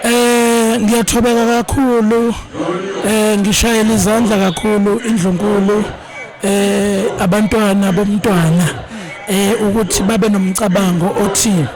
Eh ngiyathobeka kakhulu eh ngishayela izandla kakhulu indlunkulu eh abantwana bomntwana eh ukuthi babe nomcabango othi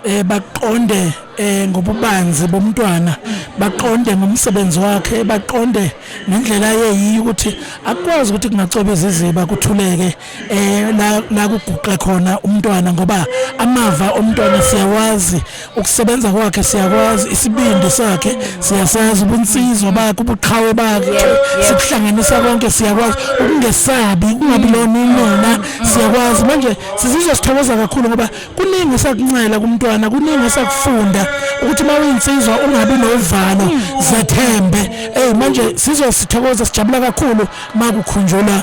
eh baqonde eh ngobubanzi bomntwana baqonde ngomsebenzi wakhe baqonde ngendlela yeyiyo ukuthi akwazi ukuthi kungacwebeza iziba kuthuleke eh la la kuguqe khona umntwana ngoba amava omntwana siyawazi ukusebenza kwakhe siyakwazi isibindi sakhe siyasazi ubunsizwa bakhe ubuqhawe bakhe sikuhlanganisa konke siyakwazi ukungesabi kungabi lona inona siyakwazi manje sizizwa sithokoza kakhulu ngoba kuningi esakuncela kumntwana kuningi esakufunda ukuthi uma uyinsizwa ungabi novalo zethembe hey manje sizosithokoza sijabula kakhulu makukhunjulwa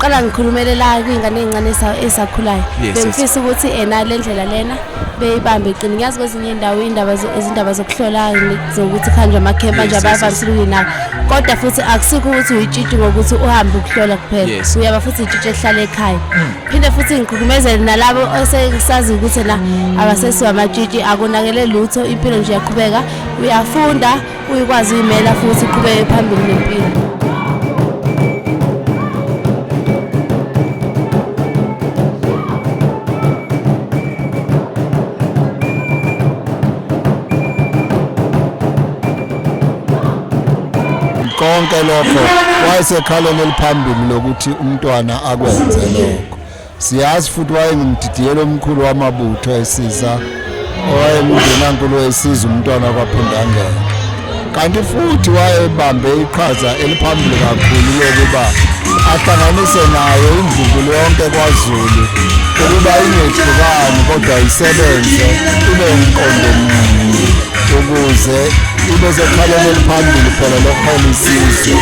qala ngikhulumele la kwingane ezincane esakhulayo bengifisa ukuthi ena le ndlela lena beyibambe iqini ngiyazi kwezinye indawo indaba izindaba zokuhlola zokuthi kuhanjwa amakhempa nje abavamisile ukuyinaka kodwa futhi akusikho ukuthi uyitshitshi ngokuthi uhambe ukuhlola kuphela uyaba futhi itshitshi ehlala ekhaya hmm. phinde futhi ngigqugqumezele nalabo osesazi ukuthi na abasesiwa amatshitshi akonakele lutho impilo nje yaqhubeka uyafunda Uyikwazi uyimela futhi iqhubeke phambili nempilo. konke lokho wayesekhaleni eliphambili lokuthi umntwana akwenze lokho Siyazi futhi wayengumdidiyelo omkhulu wamabutho esiza owayemngenankulu wesiza umntwana kwaphindangela kanti futhi wayebambe iqhaza eliphambili kakhulu lokuba ahlanganise nayo imvubulo yonke kwazulu ukuba ingehlukani kodwa isebenze ibe umqondo munye ukuze ibe sekhaleni eliphambili phela lokuhola isizwe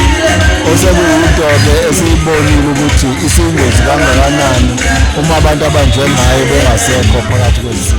osekuyinto-ke esiyibonile ukuthi Isiyingozi kangakanani uma abantu abanjengaye bengasekho phakathi kwezizwe.